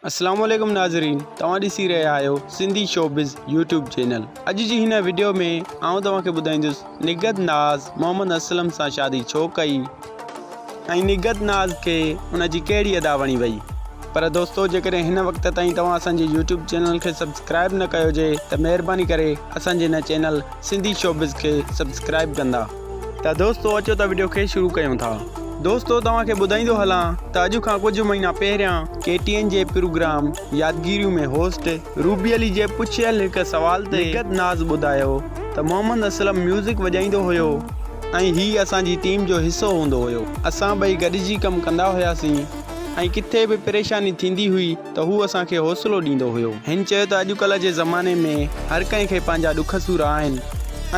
السلام عليڪم ناظرين توهان ڏسي رهيا آهيو سنڌي شوبز يوٽيوب چينل اڄ جي هن ويڊيو ۾ آئون توهان کي ٻڌائيندس نگهت ناز محمد اسلم سان شادي ڇو ڪئي ۽ نگهت ناز کي ان جي ڪهڙي ادا وڻي وئي پر دوستو جيڪڏهن هن وقت تائين توهان اسان جي يوٽيوب چينل کي سبسڪرائب نه ڪيو هجي ته مهرباني ڪري اسان جي هن چينل سنڌي شوبز کي سبسڪرائب ڪندا ته دوستو اچو ته وڊيو کي شروع ڪيون ٿا. دوستو توهان کي ٻڌائيندو هلان ته اڄ کان ڪجهه مهينا پهريان ڪي ٽي اين جي پروگرام يادگيريون ۾ هوسٽ روبي علي جي پڇيل هڪ سوال تي نگهت ناز ٻڌايو ته محمد اسلم ميوزڪ وڄائيندو هيو ۽ هي اسان جي ٽيم جو حصو هوندو هيو اسان ٻئي گڏجي ڪم ڪندا هياسين ۽ ڪٿي به پريشاني ٿيندي هئي ته هو اسان کي حوصلو ڏيندو هيو. هن چيو ته اڄڪلهه جي زماني ۾ هر ڪنهن کي پنهنجا ڏک سور آهن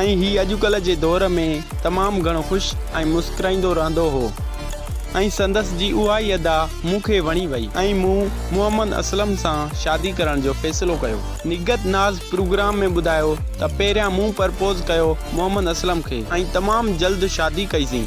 ۽ هي اڄڪلهه جي دور ۾ تمام گهڻو خوش ۽ مسڪرائيندو رهندو هو ۽ سندس جي اها ئي ادا مون کي وڻي وئي ۽ مون محمد اسلم سان شادي ڪرڻ جو فيصلو ڪيو. نگهت ناز پروگرام ۾ ٻڌايو ته پهريان مون پرپوز ڪيو محمد اسلم کي ۽ تمام جلد شادي ڪئي سين.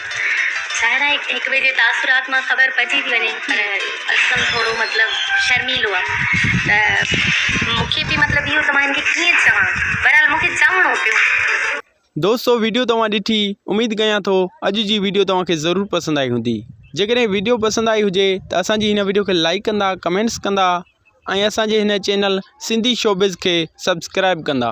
ظاهر آهي هڪ ٻئي جي تاثرات مان خبر پئجي ٿي وڃي پر اسلم ٿورو مطلب شرميلو آ ته مونکي به مطلب اهو ته مان هن کي ڪيئن چوان بهرحال مونکي چوڻو پيو. دوستو ويڊيو توهان ڏٺي اميد ڪيان ٿو اڄ جي ويڊيو توهان کي ضرور پسند آئي هوندي جيڪڏهن ويڊيو پسند آئي هجي ته اسان جي هن ويڊيو کي لائيڪ ڪندا ڪمينٽس ڪندا ۽ اسان جي هن چينل سنڌي شوبز کي سبسڪرائيب ڪندا.